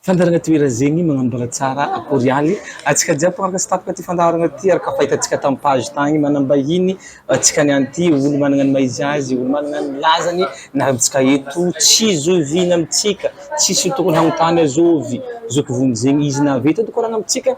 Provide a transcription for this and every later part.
Fandaharana Toerazegny magnambara tsara akorialy antsika jiaby mpanaraka sy tampoka ty fandaharana ty araka fahitantsika tam page tagny manambahiny antsika niany ty olo managna ny maha izy azy olo managna ny lazany niarantsika eto tsy zoviana amitsika tsisy tokony hanontany azovy zoky vonjy zegny izy nahavita tokorana amitsika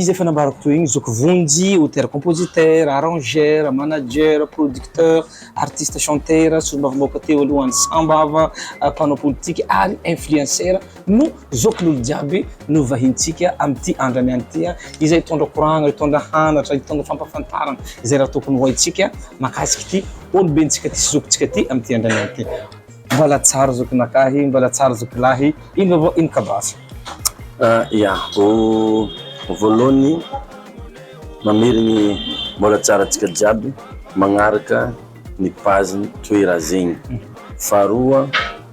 izy efa nambarako toy igny zoky vonjy auteur compositeur arrangeur manager producteur artiste chanteur solombavambahoaka teo aloha an'i sambava mpanao politika ary influenceur no zokin'olo jiaby novahintsika amin'ity andro aniany ity a, izay hitondra koragna, hitondra hanatra, hitondra fampafantarana izay raha tokony ho haintsika mahakasika ity olobentsika ity sy zokintsika ity amin'ity andro aniany ity. Mbala tsara zokinakahy, mbala tsara zokilahy, ino vaovao ino ka basy? Ia, voalohany mamery ny mbala tsara antsika jiaby magnaraka ny page-ny Toera zegny, faharoa,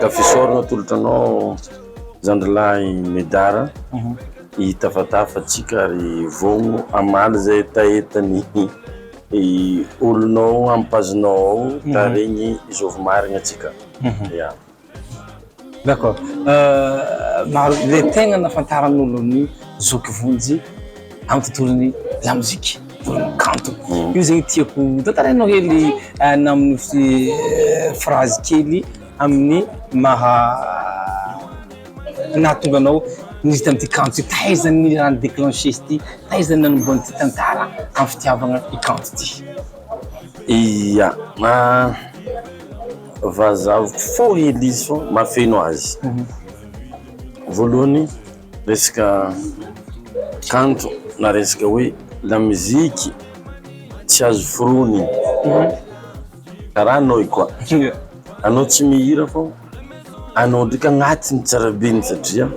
Tafisor no atolotra anao zandrilahy Medard hitafatafa antsika ary vono hamaly izay hetahetan'ny olonao amin'ny page-nao ao tarihin'i Jovy Marigny antsika. Ya. D'accord. Maro le tegna nahafantaran'olo an'i Zoky Vonjy. amin'ny tontolon'ny lamozika, tontolon'ny kanto. Io zegny tiako tantarainao hely na amin'ny phrase kely amin'ny maha nahatonga anao niditra amin'ity kanto ty, taiza ny raha ni-declencher izy ty, taiza ny nanombohan'ny ty tantara amin'ny fitiavagna i kanto ty. Ia, vazavoko fohy Lisy fa mahafeno azy, voalohany. resaka kanto na resaka hoe lamuziky tsy azo foronina karaha anao io koa anao tsy mihira fô anao ndraiky agnatiny tsarabeny satria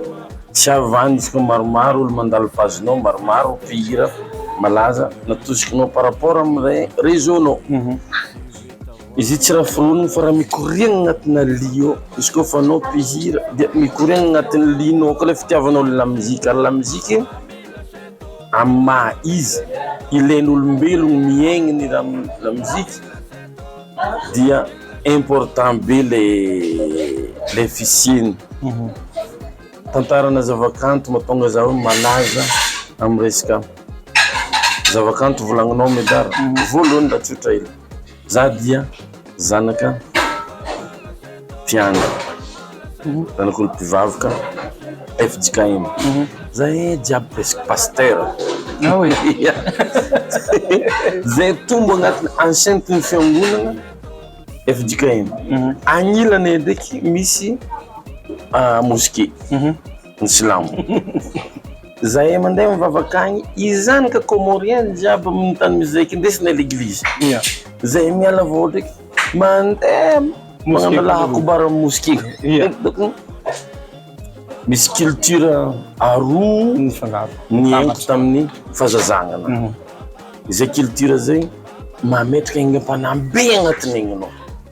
tsy havantsika maromaro olo mandalo page nao maromaro mpihira malaza natosikinao par rapport amle reseau nao Izy io tsy raha foronina fa raha mikoriana agnatina lia ao, izy koa fa anao mpihira dia mikoriana agnatin'ny lianao koa ilay fitiavanao ny lamozika, ny lamozika amin'ny maha izy ilain'olombelogno miaigny ny lamozika dia important be ilay fisiany, tantarana zava-kanto mahatonga zaho malaza amin'ny resaka zava-kanto volagninao Medard, voalohany raha tsotra hely. Za dia zanaka mpiandry, zanak'olo mpivaroka fjkm, za ee jiaby presque pasteur, ze tombo agnatin'ny enceinte ny fiangonana fjkm, agnilany ndreky misy mosquée. ny silamo zahay mandeha mivavaka agny izany ka comorien jiaby aminy tany misy zay eky ndesiny leglizy ya zahay miala vao ndreky mandeha magnano allah akbar aminy mosquee ya misy culture aroa mifangaro niainko taminy fahazazagna ana izay culture zay mametraka aigna mpanahy be agnatiny aigny anao.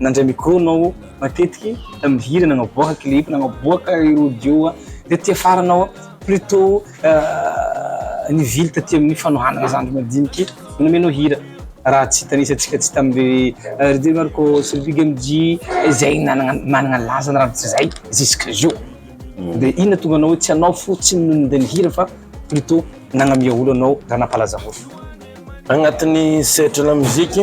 Nandray micro nao matetiky mihira nagnaboaka clip nagnaboaka ry audio tety afara nao plutot nivily taty amin'ny fanohanana zandry madiniky nomenao hira raha tsy tanisantsika tsy tamle rd marco sy big mg zay nanagna managna laza ny raha tsy zay jusque zio mm. de inona tonga anao hoe tsy anao fo tsy nononde ny hira fa plutot nagnamia olo anao raha nampalaza olo agnatin'ny sehatry la musique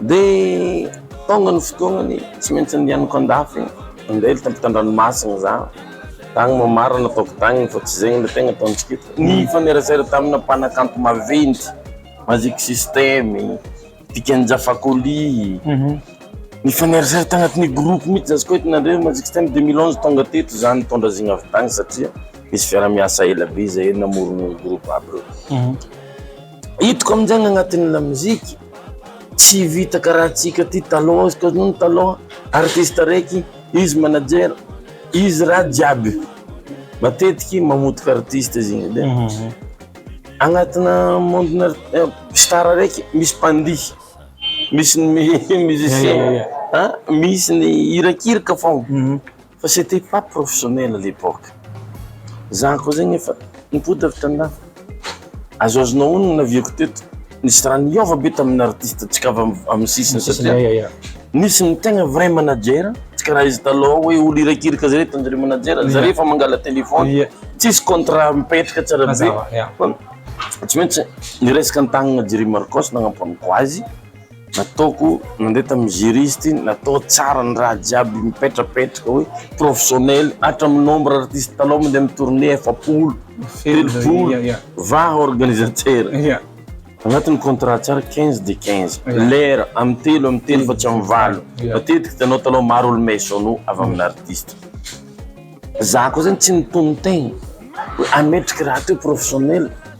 Dia tonga ny fotoanany, tsy maintsy andehanako an-dafy, andeha eto am-pitandranomasina za, tany Moamarina ataoko tany fa tsy izay ilay tegna ataontsika eto. Nifanerasera tamina mpanakanto maventy, Magic System, Dikan'Ja Fakoly, nifanerasera tanatin'ny groupe mihitsy za, izy koa hitanareo Magic System deux mille onze tonga teto za nitondra zigna avy tany satria nisy fiaraha-miasa ela be zahay namorona groupe aby reo. Hitako amin'izay ny anatin'ny lamoziky, tsy vita karaha antsika aty taloha, izy koa nony taloha, artiste araiky, izy manager, izy raha jiaby, matetiky mamotika artiste izy igny de agnatina monde-na star araiky misy mpandihy, misy ny musicien, misy ny hirakiraka foagna. Fa c'etait pas professionnel à l'époque. Za koa zegny efa nipoitra avy tan-dafy. Azoazonao honogno ny naviako teto, nisy raha niova be tamin'ny artiste ntsika avy amin'ny sisiny satria nisy ny tegna vrai manager, tsy karaha izy taloha hoe olo irakiraka zare hitany zare manager, zare efa mangala téléphone, tsisy contrat mipetraka tsara be, tsy maintsy niresaka an-tagnana Jerry Marcos nagnampono koa azy. Nataoko nandeha tamin'ny juriste, natao tsara ny raha jiaby mipetrapetraka hoe professionnel, hatramin'ny nombre artiste talao mandeha amin'ny tournée efapolo, telopolo, va organisateur. Agnatin'ny contrat tsara quinze de quinze, lera amin'ny telo amin'ny telo fa tsy amin'ny valo, matetiky hitanao talao maro olo maisono avy amin'ny artiste. Za koa zany tsy nitonon-tegna hoe ametraky raha atao hoe professionnel.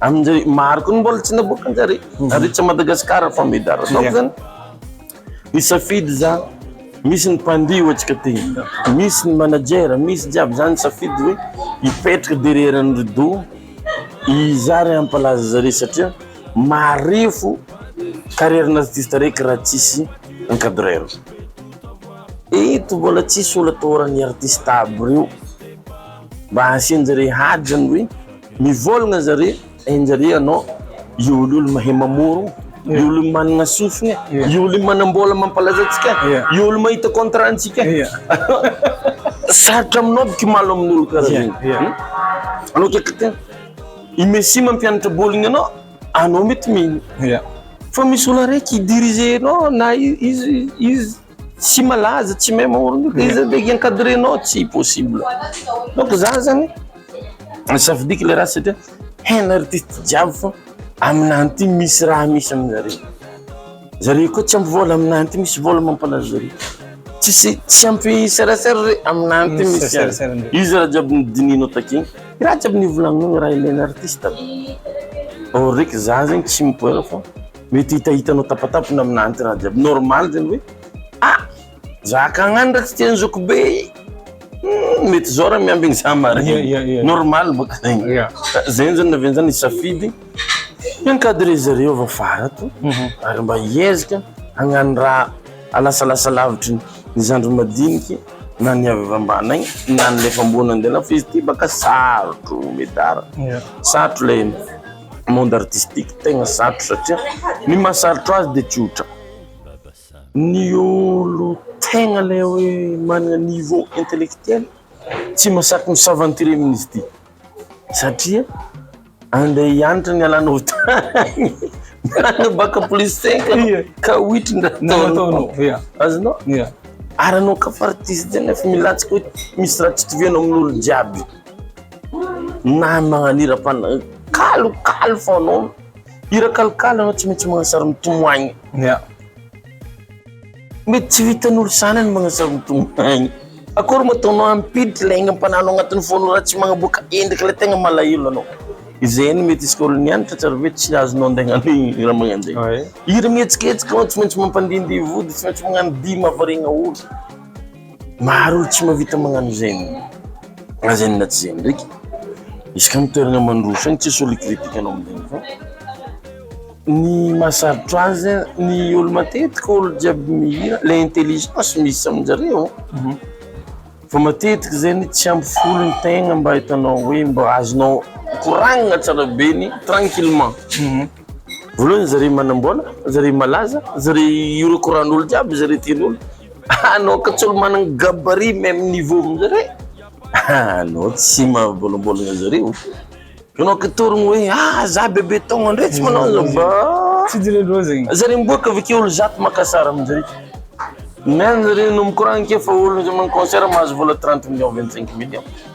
Amin'izay maro koa ny mbola tsy naboaka an-jare. Ary tsy Madagasikara fa Medar ataoko zany. Misafidy za, misy ny mpandihy hoatsika tena, misy ny manager, misy jiaby zany safidy hoe hipetraka derrière ny rideau iza ary hampalaza zareo satria marefo carrière n'artiste araiky raha tsisy encadreur. Eto mbola tsisy olona toran'ny artiste aby reo mba asian-jare ady zany hoe Mivolagna zare enjare anao io olo io mahay mamoro io olo io managna sofigna io olo io manambola mampalaza antsika io olo mahita contrat antsika sarotra aminao aby kimalo aminolo kara zegny anao ke kate i messi mampianatra boligny anao anao mety mino fa misy olo araiky i diriger nao na izy izy Tsy malaza, tsy mahay maorina io, iza ndraiky encadrenao, tsy possible. Donc za zany, safidiko le raha satria hain'ny artiste jiaby fa aminah ty misy raha misy aminareo. Zareo koa tsy ampy vola, aminah ty misy vola mampalaza zareo. Tsisy, tsy ampy serasera re, aminah ty misy azy. Io zany raha jiaby nodinihinao takeo, i raha jiaby nivolagninao, i raha ilain'ny artiste aby. Or raiky za zegny tsy mipoera fa. Mety hitahitanao tapatapina aminà anti-rà jiaby. Normal zany hoe a! zaka agn'any raha tsy tian'i zoky be i! Hum! mety zao raha miambigny za marigny. Normal boka zegny. Zegny zany naviany zany hisafidy hi-encadrer zareo avy afara ato ary mba hiezaka hagnano raha halasalasa lavitry ny zandriny madiniky na ny avy ambany agny na ny le efa ambony andeha lafo fa izy ty baka sarotro Medard. Sarotro lay. monde artistique tegna sarotra satria ny maha sarotra azy de tsy otra ny olo tegna le hoe manana niveau intellectuel tsy masaky mi s'aventurer amin'izy ty satria ande hianatra ny alanao tany na baka plus cinq anao ka oitry ny raha ataonao azonao ary anao ka fa artiste nefa milatsaka hoe misy raha tsy itovianao amin'olo jiaby. Na ny magnano hira pan- kalokalo fanaony. Hira kalokalo ianao tsy maintsy magnano sary mitomany. Ya. Mety tsy vitan'olo sana ny magnano sary mitomany. Akory moa ataonao hampiditra ilay aingam-panahinao agnatin'ny foanao raha tsy magnaboaka endrika ilay tegna malahelo anao. Izay no mety isika olo nianatra tsara ve tsy azonao andaigna ny raha magnanjay. Hira mihetsiketsika anao tsy maintsy mampandindihy vody, tsy maintsy magnano dihy mahavariagna olo. Maro olo tsy mahavita magnano izegny, na zegny na tsy zegny ndreky, izy ka amin'ny toerana mandroso any tsisy olo hi-critique anao amin'izegny fa ny mahasarotra azy ny olo matetiky olo jiaby mihira le intelligence misy amin-jareo fa matetiky zegny tsy ampy folo ny tegna mba hitanao hoe mba azonao koragnina tsara be ny tranquillement. Voalohany izy re manambola, izy re malaza, izy re hiorakoran'olo jiaby, izy re tian'olo. Anao ka tsy olo managny gabarit meme niveau amin'izy re. Anao tsy mahabolambolagna izy reo. Anao ka torogno hoe ah za bebe taogna ndray tsy manao an'zao ba. Tsy jeren'ireo zegny. Izy re miboaka avy ake olo zato maka sary amin'izy re. Meme izy re no mikoragna ake fa olo izy manao concert mahazo vola trente millions, vingt cinq millions.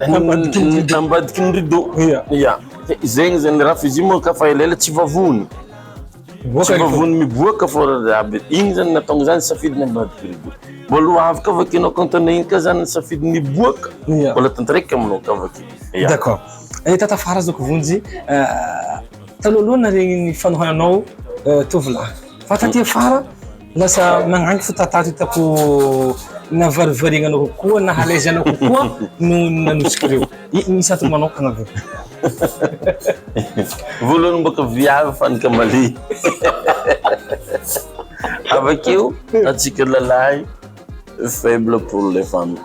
Any ambadiky ny rideau. Ambadiky ny rideau. Ia. Ia. Zegny zany raha f'izy moa ka fa elaela tsy vavony. Tsy vavony miboaka fa aby. Igny zany nahatonga zany safidy ny ambadiky rideau. Mbola ho avy ka vakianao compte-nao igny ka zany ny safidy miboaka. Ia. Mbola tanteraka aminao ka vaky. Ia. D'accord. Eh, tata fara azoko vonjy, taloha aloha naharegny ny fanohananao tovolahy. Fa taty afara. Lasa nagnangy fo tantara hitako navarivariagna anao kokoa na à l'aise anao kokoa noho ny nanosoka ireo. I misy antony manokana ve? Voalohany mbôka viavy fanny kamaly avakeo antsika lalahy faible pour les femmes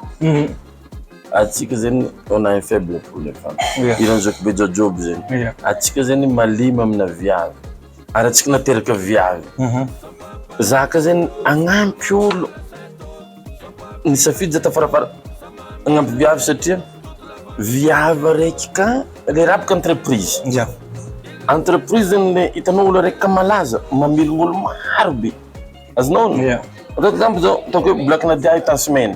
antsika zegny on a un faible pour les femmes iran'i zokibe jojoby zegny antsika zegny malemy amina viavy ary antsika nateraka viavy zaka zay agnampy olo ny safidy zay tafarafara agnampy viavy satria viavy araiky ka le raha boka entreprise entreprise zany le hitanao olo araiky ka malaza mamelogno olo maro be azonao ognona ataoko exemple zao ataoko hoe black nadia hitan'i semaine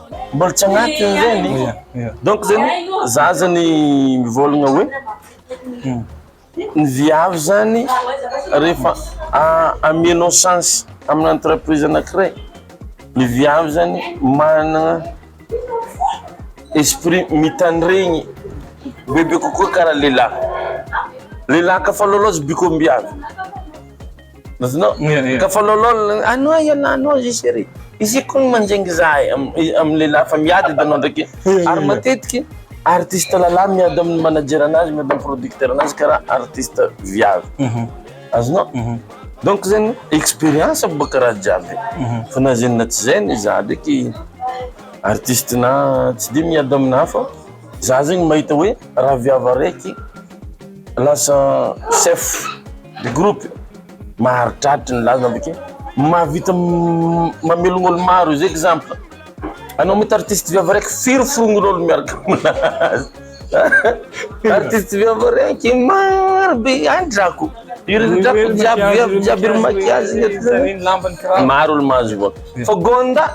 Mbola tsy agnatiny zany donc zany za zany mivôlagna hoe ny viavy zany rehefa amianao chance amina entreprise anakiray ny viavy zany managna esprit mitandregny bebe kokoa kara lelah, lelah ka fa lôlôzy biko am-biavy. Azonao? Ka falaolaola, anwa ialahy anwa zay chérie. Isika koa manjingy zahay amin'ny lehilahy fa miady hitanao ndraiky. Ary matetiky artiste lalah miady amin'ny manager anazy, miady amin'ny producteur anazy karaha artiste viavy. Azonao? Donc zany expérience boka karaha jiaby. Fa na zay na tsy zay anie za ndraiky artiste na tsy dia miady amin'ny hafa, za zegny mahita hoe raha viavy araiky, Lasa chef de groupe maharitraritra ny lazana avy akeo. Mahavita mamelogna olo maro izy exemple anao mety artiste viavy araiky firy forognon'olo miaraka aminazy artiste viavy araiky maro be any drako iry drako jiaby viavy jiaby iry maquillage ny aty zany maro olo mahazo vola fa gonda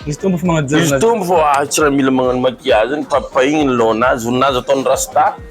izy tombo fo magnaja izy tombo fo ah tsy raha mila magnano maquillage zany papahigny ny lohan'azy voninazy ataony rasta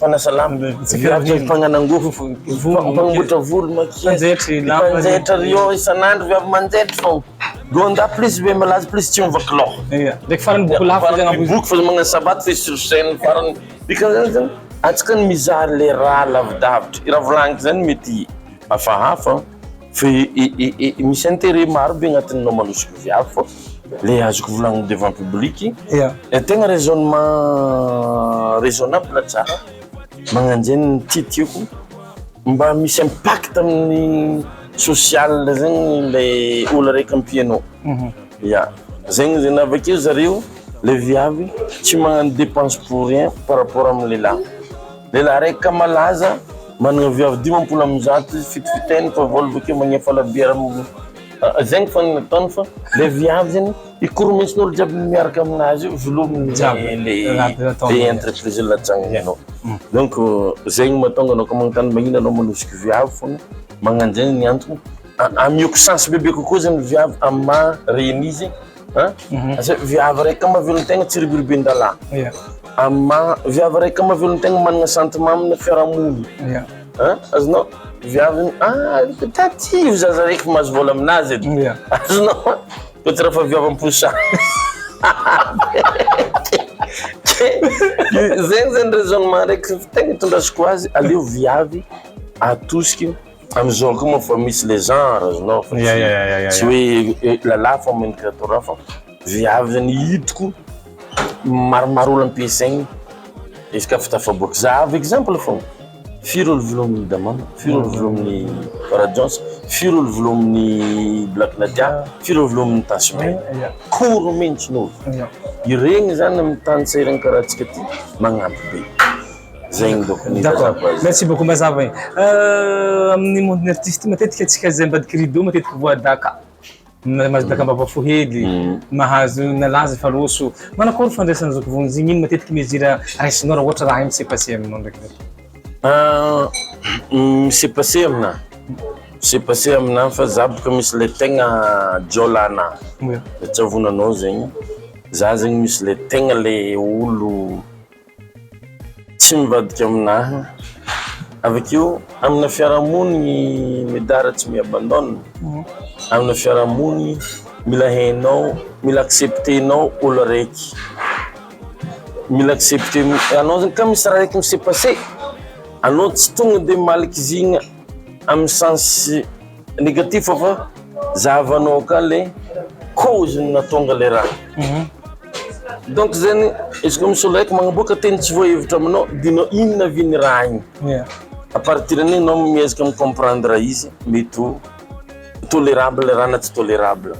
Fanasalama ny mpianatra, ny mpagnanangofo, ny mpamboatra volo, ny mpanjaitra, ny mpanjaitra Rio isan'andro vy avy manjaitra fô Gonda plus be malaza plus tsy miova kilao. Ia, ndraiky farany boky lafo zay agnamboarina. Boky fa magnano sabata f'efa sur scène farany dikan'izany zany antsika no mizaha le raha lavidavitra, i raha volagniko zany mety hafahafa. Ve misy intérêt maro be agnatin'ny namanosiko viavy fô le azoko volagniny devant public tegna raisonnement raisonnable tsara magnanjegny ny tiatiako mba misy impact amin'ny social zegny le olo araiky ampianao ya zegny zegny avakeo zareo le viavy tsy magnano depense pour rien par rapport amin'ny lehilahy. Lehilahy raika malaza, manana vehivavy dimampolo amby zato izy, fito fiteny fa vao avy akeo magneha falabiera amin'ny zegny fô ny ataony fa le viavy zegny ikoromesin'olo jiaby miaraka aminazy io velominy jiaby le le entreprise latsagny anao donc zegny mahatonga anao koa magnontany magnino anao manosiky viavy fôgna magnanjegny ny antony amiako chance bebe kokoa zegny viavy amin'ny maha ren'izy Viavy raika mavelontena tsy ribiribin-dalà. Viavy raika mavelontena manana sentiment amina fiarahamonina. Azonao? Viavy taty io zaza raiky mahazo vôla aminazy eto. Azonao? Koa tsy raha fa viavy am-posa. Zegny zany raisonnement raiky tegna itondrasako azy, aleo viavy atosiky. Amizao ko moa fa misy le genre azonao fa tsy hoe lalahy fa mendrika atao raha fa viaviny hitako maromaro olo ampiasainy izy ka fa tafaboaka za avy exemple fôgna firy olo volo aminy damamy firy olo volo aminy farajohnson firy olo volo aminy black nadia firy olo volo aminy tasme koro mintsy no iregny zany amy tany sahiragny karaha antsika ty magnampy be. Zegny bôka ny D'accord. mazava azy. Merci beaucoup mazava e. Euh, amin'ny monde-n'ny artiste matetika antsika izay ambadiky rideau matetika voa daka. Na mahazo daka am-bava fo hely, mahazo nalaza efa roso. Manao akory fandraisana an'izao fotoana izao? Ino matetika mesure raisinao raha ohatra raha hay mi-se passer aminao ndraiky zao? Ah, mi-se passer aminah? Mi-se passer aminah fa za bôka misy le tegna jiôla anah. Oe. Tsy avonanao zegny. Za zegny misy le tegna le olo. Tsy mivadika amin'ahy. Avy akeo amina fiarahamonina ny medard tsy mi abandonne. Amina fiarahamonina mila hainao, mila accepter-nao olo araiky. Mila accepter-nao, anao zany ka misy raha araiky mi se passer, anao tsy tonga dia malkizigna. Amin'ny sens negatif fa zahavanao ka le cause ny natonga le raha. Mhm. Donc zany izy koa misolaiko magnaboaka teny tsy voahevitra aminao dia nao inona avy ny raha igny. Yeah. A partir an'igny anao miezaka mi-comprendre izy mety ho tolérable raha na tsy tolérable.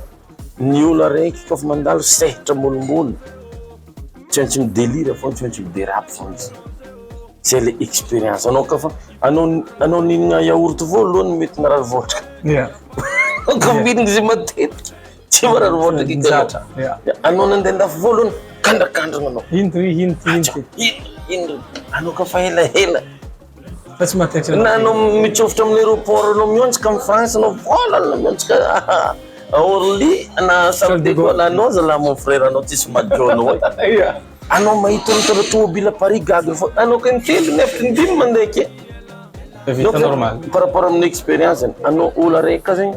Ny olo araiky koa fa mandalo sehatra molombolo tsy maintsy mi delire foana tsy maintsy mi derape foana zany zay le experience anao koa fa anao anao nihinana yaourt voalohany mety marary vôtraka ya koa mihinana izy matetika tsy marary vôtraka i Galatra ya anao nandeha andafy voalohany kandrakandrana anao indry indry indry indry anao koa fa ela ela Nanao mitsofotra amin'ny aéroport nao mihontsika am France nao foana nao mihontsika à Orly na Charles de Gaulle anao zalahy mon frère anao tsisy madio anao e anao mahita mitondra tomobile à Paris gaga foana anao kay miteny nefa ny dimy mandeha ake par rapport amin'ny expérience anao olo araiky ka zegny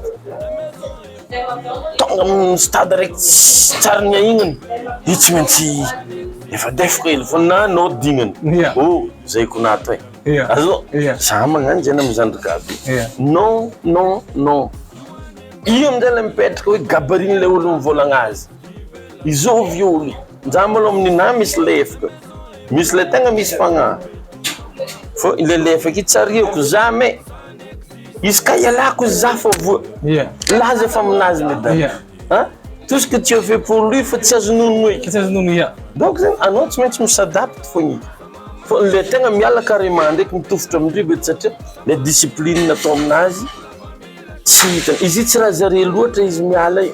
Tonga amin'ny stade reky tsy tsary niahignana io tsy maintsy efa defoka hely foana na anao dingana yeah. oh zay ko nato e yeah. azo yeah. za magnano zay na mizandry gaby yeah. non non non io amizay le mipetraka hoe gabariny le olo mivolagna azy izao avy io olo za mbolo amin'ny na misy lefoka misy le tegna misy fagnahy fô le lefaka io tsy ariako za me Izy ka ialako izy za fa voa. Ia. Laza fa aminazy le dada. Ia. An? Tout ce que tu as fait pour lui fa tsy azo nono eky. Tsy azo nono ia. Donc zany anao tsy maintsy mi-s'adapte fogna eky. Fa le tegna miala carrement ndraiky mitofotro amin-dry be satria le discipline atao aminazy tsy hitany. Izy io tsy raha zare loatra izy miala io.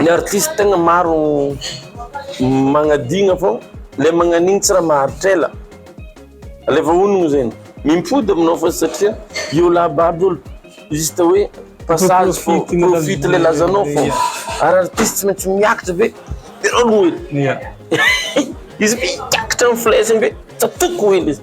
Ny artiste tegna maro magnadigna fô le magnan'igny tsy raha maharitra ela, le voahonogno zegny mimpody aminao fô satria io lab aby olo juste hoe passage fô profite le lazanao fô ary artiste tsy maintsy miakatra be izy miakatra flèche be tsatoky ho ela izy.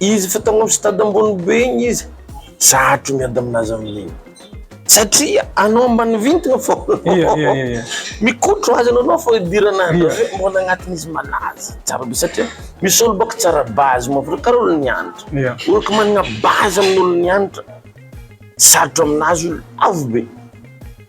Izy efa tao amin'ny stade ambony be iny izy, zahatra ny miady amin'azy amin'iny. Satria anao ambany vintana fô. Ia, ia, ia, ia. Mikotro azy anao anao fô hidirana azy. Ia. Hoe mbôla agnatin'ny izy malaza. Tsara be satria misy olo bôka tsara base mavr karaha olon'ny antitra. Ia. Olo ko managna base amin'olon'ny antitra, sarotro amin'azy io, lavo be.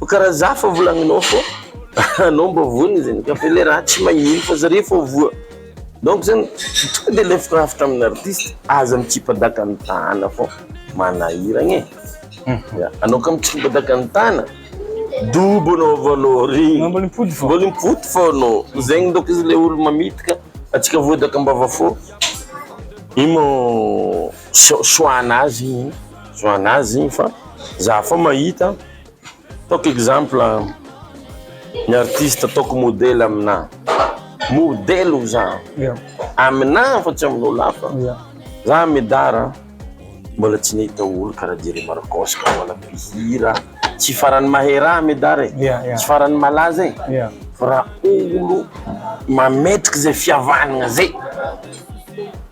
Fa karaha za fa volagninao fô anao mba voa zany ka fa le raha tsy magnino fa zare fô voa donc zany tonga de alefako hafatra amina artiste aza mitsipadaka ny tana fô manahira anie ya anao ka mitsipadaka ny tana dobo anao avao anao re mbola mipody fô mbola mipody fô anao zegny donc izy le olo mamitaka atsika voadaka ambava fô ino choix-nazy choix-nazy fa za fô mahita Ataoko exemple ny artiste ataoko modely aminà, modely hoy za, aminà fa tsy amin'olo hafa, za Medard a, mbola tsy nahita olo karaha Jerry Marcos ka mbola mpihira tsy faran'ny mahera ahy Medard e, tsy faran'ny malaza e, fa raha olo mametrika zay fihavanagna zay.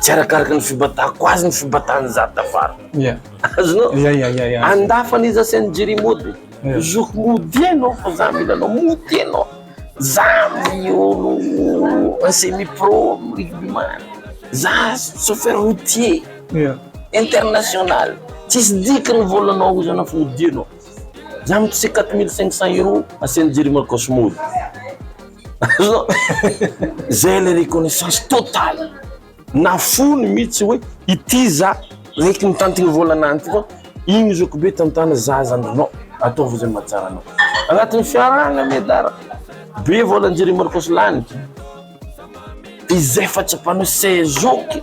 tsy arakaraka ny fibatahako azy ny fibatahany za tafara yeah. azonao yeah, yeah, yeah, yeah. andafany izy asiany jery mody yeah. zoky mody anao fa za mila anao mody anao za miolo semi pro rigbyman za chauffeur routier yeah. international tsisy dika ny volanao izy anao fa mody anao za mitose 4500 euros asiany jery makosmody zay le reconnaissance totale na fony mihitsy hoe ity za raiky mitantigny volana any ty fa igny zoky be tantana za zany no ataovy zay mba tsara anao agnatin'ny fiarahana miadara be voalanjera i marcos lany izay fahatsapanao se zoky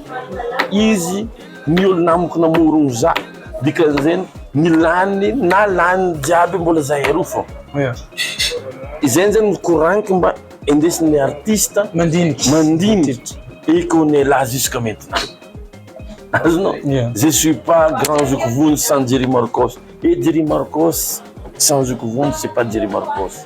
izy ny olo namako namorogno za Dikany zeny ny lany na lany jiaby mbola zahay roa fô. Izay zany ny koragniky mba endesin'ny artista mandinika mandinika et qu'on est là jusqu'à maintenant. Azonao? Je suis pas grand zoky vonjy sans Jerry Marcos et Jerry Marcos sans zoky vonjy c'est pas Jerry Marcos.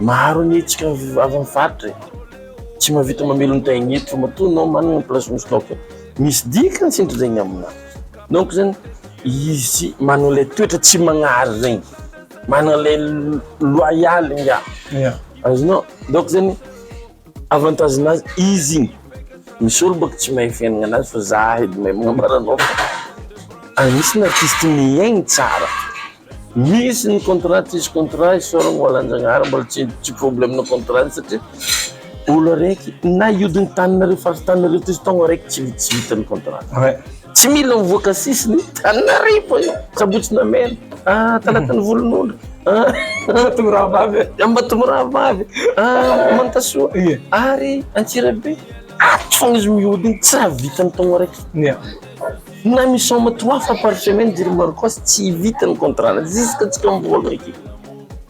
Maro ny hetsika avy amin'ny faritra e! Tsy mahavita mamely ny taille eto matoa enao manana ny place-nao stock. Misy dikany sinto zegny aminao. Donc zany izy manana ilay toetra tsy magnary zegny, manana ilay loyal ingahy. Azonao? Donc zany. Avantage nazy izy igny misy olo bôka tsy mahay fiaignana anazy fa za edy mahay magnambara anao fa agnisy ny artiste miaigny tsara misy ny contrat tsisy contrat isaoragna ho alanjagnahary mbola tsy tsy problème na contrat ny satria olo araiky na hiodigny taninareo faritany nareo toy izy taogno araiky tsy vitsivita ny contrat. Tsy mila mivoaka sisiny Antananarivo e! Sabotsy namela ah, Talata ny volonondry ah, Ambatomby rahavavy e! Ambatomby rahavavy ah, Mantasoa e! Ary Antsirabe ato foana izy miody iny, tsy raha vita ny taogno araiky Ia! Na misaoma trois fois par semaine Jiri Marcos tsy vita ny contrat-ny, juska tsika mivoaka aty.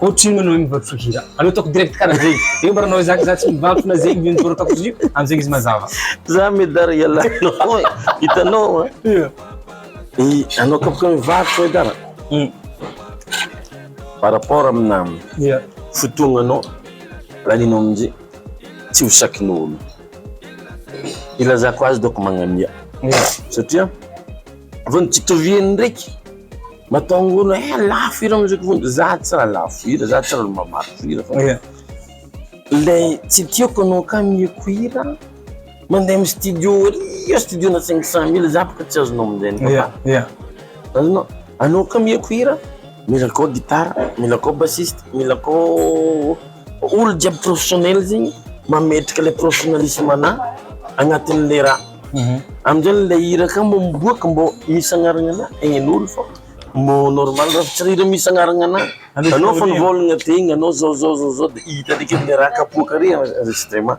Ohatry ny manao iny vao tsy hira. Aleo ataoko direct karaha zegny. Zegny mba nanao zaka za tsy mivantsona zegny zegny zao ataoko izy io amizegny izy mazava. Za medar ialahy anao e, hitanao a. Ia. I anao koa bôka mivarotra medar. Hum. Par rapport amina Ia. fotoagnanao lanianao amizay tsy ho sakin'olo. Ilazako azy dôko magnamia satria vao nitsitoviany ndraiky. Matahoana eh lafo hira misy vonjy, za tsy raha lafo hira, za tsy raha mamaky hira fa le tsy tiako anao ka ameko hira mandeha amin'ny studio ery eo studio-na cinq cent mille za bôka tsy azonao amin'izay papa yeah yeah azonao anao ka ameko hira mila akao gitara, mila akao bassiste, mila akao. Olo jiaby professionnel zegny mametraka le professionnalisme n'a agnatin le raha amizay le hira ka mbo miboaka mbo misy agnarana ana egnenolo fô mbo normal raha tsy hira misy agnarana ana anao fa nivôlagna tegna anao zao zao zao de hita ndreky le raha kapoaka re enregistrement.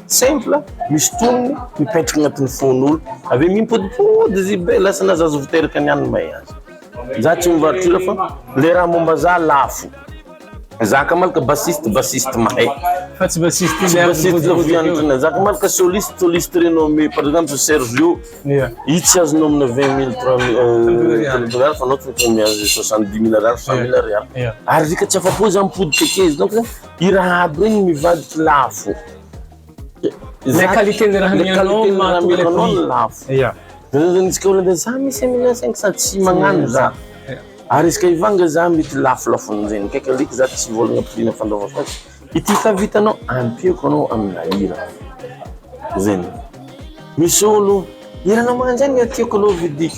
Simple, misy tonony, mipaintrika agnatin'ny fon'olo, avy eo mimpodimpody izy be, lasa na za zao vao teraka ny any may aza. Za tsy mivarotra hira fa le raha momba za lafo. Za ka malaka bassiste, bassiste mahay. Fa tsy bassiste tsy bassiste zao viantrana. Za ka malaka soliste, soliste renommé, par exemple Sergio. Ia. Izy tsy azonao amina vingt mille, trois mille ariary fa anao tsy maintsy miazo soixante dix mille ariary, cent mille ariary. Ia. Ary r'ika tsy afa-po za mipodika akeo izy donc zany. I Rahab iny mivadika lafo. Ilay qualité ny raha amianao no mahatonga ilay prix. Lafo. Ya. Antsika olona za misy amina saingy sady tsy magnano za. Ary izy ka hivanga za mety lafolafony zegny kay ka aleko za tsy hivôlagna prix na fandaovako azy. Ity efa vitanao ampiako anao amina hira. Zegny. Misy olo hiranao manjagny tiako aleo vidiko.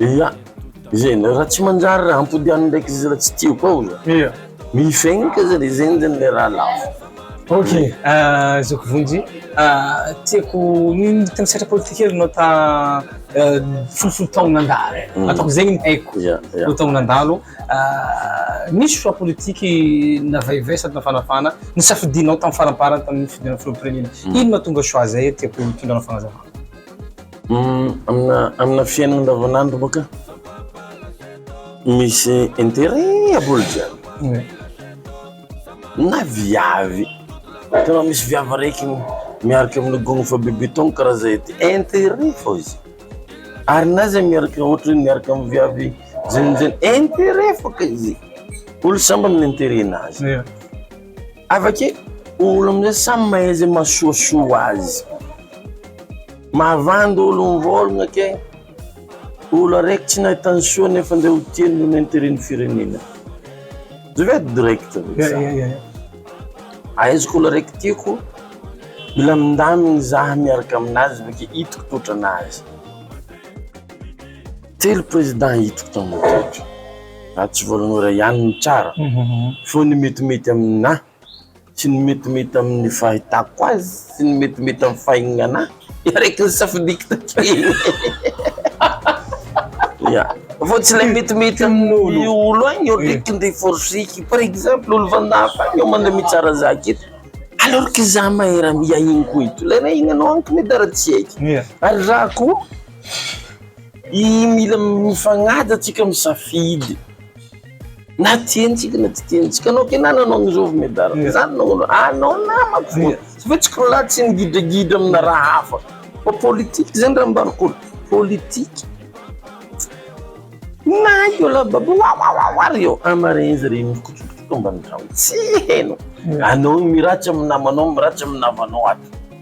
Ia, izay ndray raha tsy manjary raha ampodiano ndraiky izy raha tsy tiako ao za. Ia. Mifenitra zany e, zegny zany le raha lafo. Ok, zoky Vonjy, tiako niditra ny sehatra politika io anao ta folofolo taogno nandalo, ataoko zegny ny haiko, Ia, ia. folo taogno nandalo, nisy choix politique navaivay sady nafanafana nisafidianao tam faramparany tamin'ny fifidianana filoham-pirenena, ino mahatonga choix zay tiako hitondranao fagnazavana. Amina amina fiainana andavanandro baka misy intérêt aboly jiaby na viavy tena misy viavy araiky miaraka amin'ny gony fa be beton karaha zay ty intérêt fô izy ary na zay miaraka ohatra hoe miaraka amin'ny viavy jenojeno intérêt fô ka izy olo samby amin'ny intérêt nazy. Hafa kely, olo amin'izay samy mahay izay mahasoasoa azy. Mahavandy olo mivôlagna ke, olo araiky tsy nahita ny soa nefa ndray ho tia noho ny interet ny firenena. Je vais être direct avec ça. Ya, ya, ya. Ahaizako olo araiky tiako, mila mindamigny za miaraka aminazy avy ake hitako toetran'azy. Telo président hitako tamin'ny toetra, raha tsy Voalohany ihany no tsara, fô ny metimety amin'ahy sy ny metimety amin'ny fahitako azy sy ny metimety amin'ny fahignan'ahy dia araiky ny safidiko takeo ya, fô tsy le metimety amin'ny olo agny olo eky ndeha forceko, par exemple olo fandafy agny olo mande mitsara za aketo, alors que za mahay raha mihaino koa eto, le raha hihinanao agny ko mety dara tsy hay ary za ko. I mila mifagnaja tsika misafidy na tiany tsika na tsy tiany tsika anao kena nanao an'izao medard fa za nanao an'izao anao namako fona tsy hoe tsika lahy tsy migidragidra amina raha hafa fa politique zany raha ambara ko politique na io lahy babo wawawa ry eo an marin zare mikotrokotroka ambany trano tsy heno anao miratsy amy namanao miratsy amy navanao ato.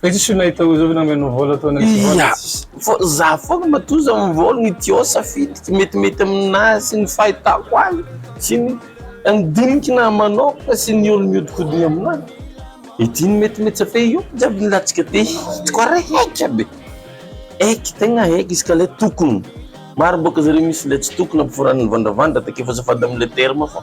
Fa tsisy olona hita ozovy na meno vôla ataonao tsy vôla Ia, tsisy. fô za fôgna matoa za mivôla ny Diô safidiko metimety aminazy sy ny fahitako azy sy ny ny diniky nahy manôkagna sy ny olo miodinkodina aminahy, ity ny metimety za fa io jiaby ny latsaka ty hitako araiky aby, eky tegna eky izy ka le tokony, maro bôka zareo misy le tsy tokony ampiforanany vandravandra take fa azafady amle terme fa.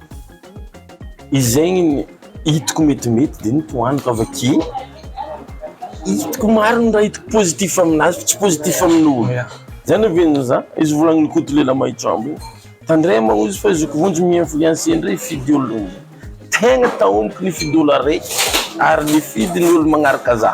Izegny ny hitako metimety de ny tohaniko avake, hitako maro ny raha hitako positif aminazy fa tsy positif amin'olo, zany ve ny za, izy volagnin'i Koto lela mahitsoambo io, tandremo ozy fa zoky vonjy mi influencer ndray hifidy olo, tegna taomiko nifidy olo araiky ary nifidy ny olo magnaraka za.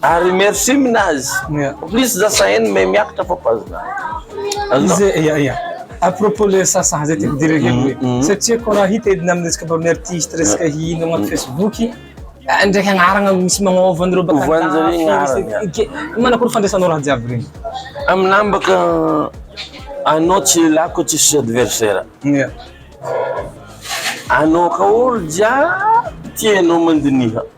Ary merci minazy. Plus za sahen may miakatra fa pas za. Izy ia ia. A propos le sasaha zay tiako dire kely hoe satria ko raha hita edina aminy resaka baminy artiste resaka hino agnaty facebook ah ndraiky agnarana misy magnova anareo baka andafy manakory fandraisanao raha jiaby regny. Aminah mbaka anao tsy lelako tsisy adversaire. Ia. Anao ka olo jiaby tianao mandiniha.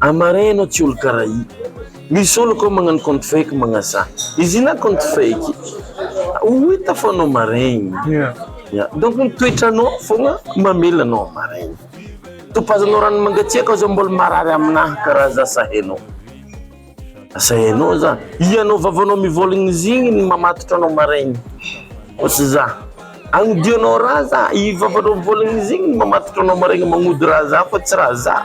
A marin enao tsy olo kara i. Misy olo ko magnano compte fake magnasa izy io na compte fake ho hita fa anao marin ya donc ny toetranao fogna mamela anao ho marin. Topazanao rano mangatsiaka aza mbola marary aminaha kara za sa enao? Sa enao za? Ianao vavanao mivolagna izy igny no mamatotra anao marin fa tsy za. Agnodianao raha za, i vavanao mivolagna izy igny no mamatotra anao marin magnody raha za fa tsy raha za.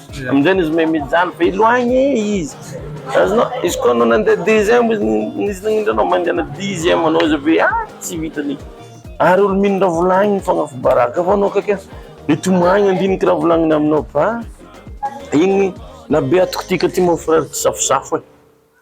Amin'izay izy me mijaly be loagny e izy. Azonao? Izy koa anao nandeha deuxième izy izy nagnindry anao mangana dixième anao izy avy eo ah tsy vitany. Ary olo mino raha volagniny fogna fo baraka fa anao kaiky mety ho maigny handiniky raha volagniny aminao fa igny na be atoko ty ka ty mon frère tsy safosafo e.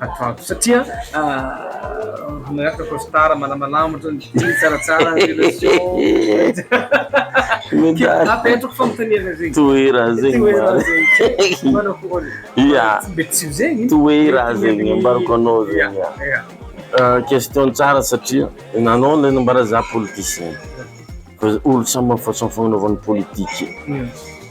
Hatao satria miaraka costard malamalama otrany jeans tsaratsara apetrako fanontaniana zegny toera zegny toera zegny ambarako anao zegny euh, question tsara satria nanao le nambara za politicien olo samy façon fagnanovany politique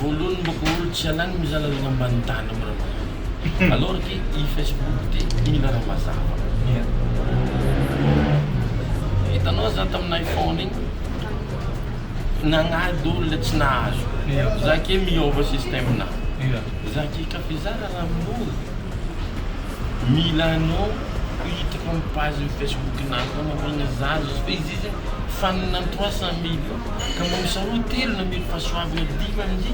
Voaloany mboko olo tsy alany mizara lalao ambany tany am ra mazava alors que i Facebook de mila ra mazava hitanao za tam iPhone iny nagnady olona tsy nahazo za ke miova système na za ke ka fizara ra mora mila anao hiditra am page Facebook nao ka mamegna za izy izy fanina trois cent mille Ka mba misaoa telo namely fahasoavana dimy amdy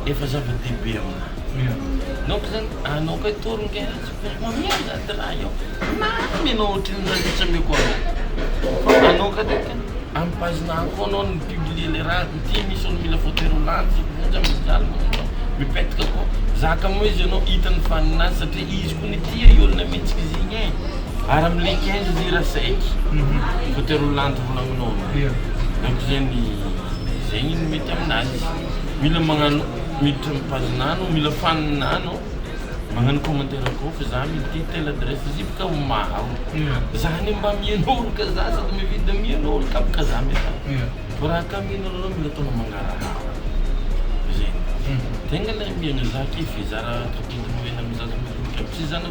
efa zava dehibe aminah. Donc zany anao kay tory nge tsy mamela zany raha io na ny anao ohatry ny rariny tsy ameko anao. Anao ka de am page nah koa anao no mi publie le raha ko ty misy olo mila photo ero lany tsy vonjy am mijaly manao mipetka ko zaka mo izy anao hitany fa ninazy satria izy ko nitia i olona mihitsy kizigny e. Ary am le quinze lira sec côté roa landy roa lamin'ômby Ie. Donc zegny zegny no mety aminazy Mila magnano miditra am page nano mila fan nano magnano commentaire koa fa za mety te tel adresse izy io bôka maro Ie. Za anie mba mianolo ka za sady mividy da mianolo ka bôka za mety an Ie. Vao raha ka mianolo anao mila ataonao magnarahaba zegny Tegna le miezaka e f'izara tapitrisa nomenao am zaza madinika aby tsy zanaky.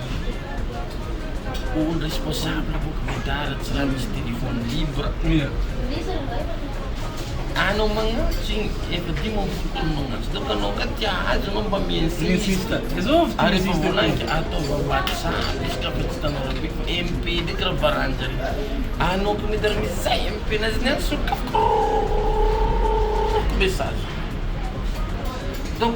Olo responsable boka vidar tsy raha misy téléphone libre ur anao magnantsy igny efa dimy amby folo taona magnantsy donc anao nga tia azy anao mba mi-insiste ary efa voalagniko ataovy whatsapp izy ka fa tsy hitanao raha be fa MP ndraiky raha varanjareo anao ko mety raha misy zay MP nazy ny any sokafiko rorororororoko message donc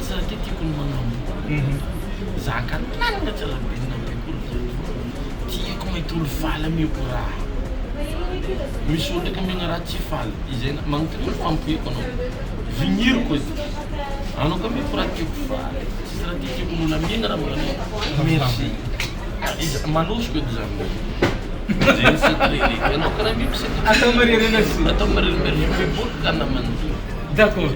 Tsy raha ty tiako ny manambola Zaka lalina tsy raha be na be koa ry Tiako maitolo faly ameko raha Misy olona ka mena raha tsy faly Izay na manontaniako fa ampoheko anao Viniriko edy Anao ka ameko raha tiako faly Tsisy raha ty tiako nolamena raha mbola anao Merci ah iza manosiko edy zany hoe Zay ny secret le Ianao ka raha ameko secret Atao maririna sy Atao maririna Merci beaucoup ka namana D'accord.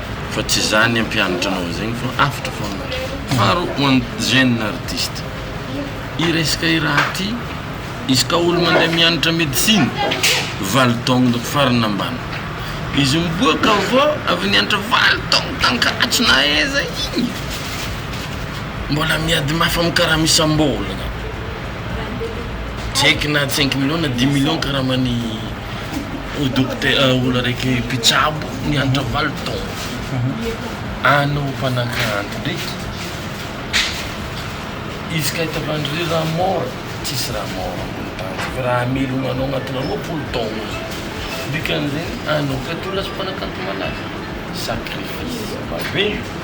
Fa tsy zany ampianatra anao zegny fa avotra fôgna ary faro ho an'ny jeune artiste i resaka i raha ty izy ka olo mandeha mianatra medecine valo taogno dok farany ambany izy miboaka avô avy nianatra valo taogno tankatso na aiza igny mbola miady mafy amy karama isam-bôlagna tsy eky na cinq millions na dix millions karaman'ny ho dokotera, olo araiky mpitsabo mianatra valo taona any ho mpanakanto ndraiky izy ka hitavandry ry raha mora tsisy raha mora ambony tany fa raha hamelogna anao agnaty roapolo taogno izy dikan'izegny anao feto lasa mpanakanto malaza sacrifice maventy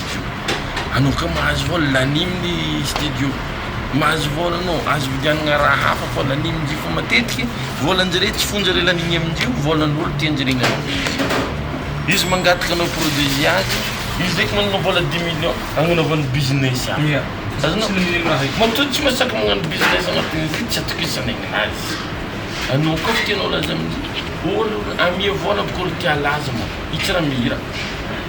Anao ka mahazo vôla lanim ny studio mahazo vôla anao azo vidianagna raha hafa fa lanimindry fa matetiky vôlanjare tsy fonjare laniny amindrio vôlan'olo tianjaregna izy mangataka anao produit azy izy ndreky managna vôla dix million agnanaovany business hafa ia azonao tsy mino raha zay matoa tsy masaky magnano business agnatin'izay tsy atokisany aminazy anao koa tianao laza amindry olo amia vôla bôka olo tia laza mô itsy raha mihira.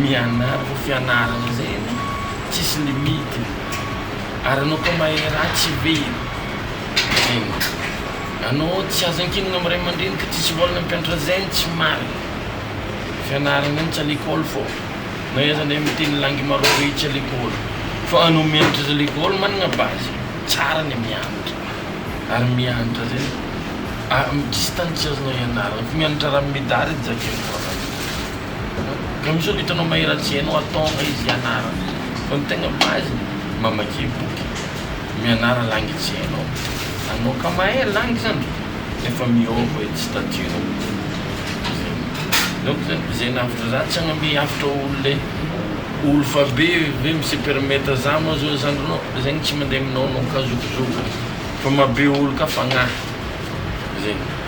mianarako fianarana zegny tsisy limite ary anao koa mahay raha tsy be zegny anao tsy azo ankinina amy ray aman-dreny ka tsisy vôla nampianatra zegny tsy marigny fianarana any tsy à lekôly fô na iza ndray miteny langy marobe tsy à lekôly fa anao mianatra aza lekôly managna base tsara ny mianatra ary mianatra zegny a- tsisy tany tsy azonao ianarana fa mianatra raha midary edy zakainao raha zany. Kamisotra hitanao Mahery tsy hainao atao nga izy hianara fa ny tegna base ny mamakia boky mianara langue tsy hainao anao ka mahay langue zany efa miôva edy statut nao zay donc zany zay nahavitry za tsy hagname hafatra olo le olo fa be ve mi se permettre za moa zao zandry nao zegny tsy mande aminao anao ka zokizoky fa maha be olo ka fagnahy zegny.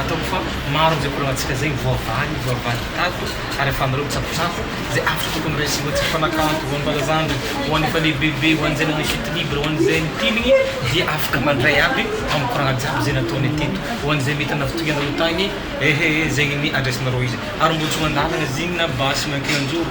Ataoko fa maro amin'izay koranantsika izay voavaly, voavaly tato ary afahanareo mitsakotsako izay afo tokony raisinao tsy mifanakanto ho an'ny Razandry, ho an'ny efa lehibebe, ho an'izay nanao chute libre, ho an'izay nipiligny dia afaka mandray aby amin'ny koragna jiaby izay nataony teto, ho an'izay mety hanavotoy anareo tagny, ehe zegny ny andraisanareo izy. Ary mbo tsy ho an-dalagna zegny na basy mankeny an-joro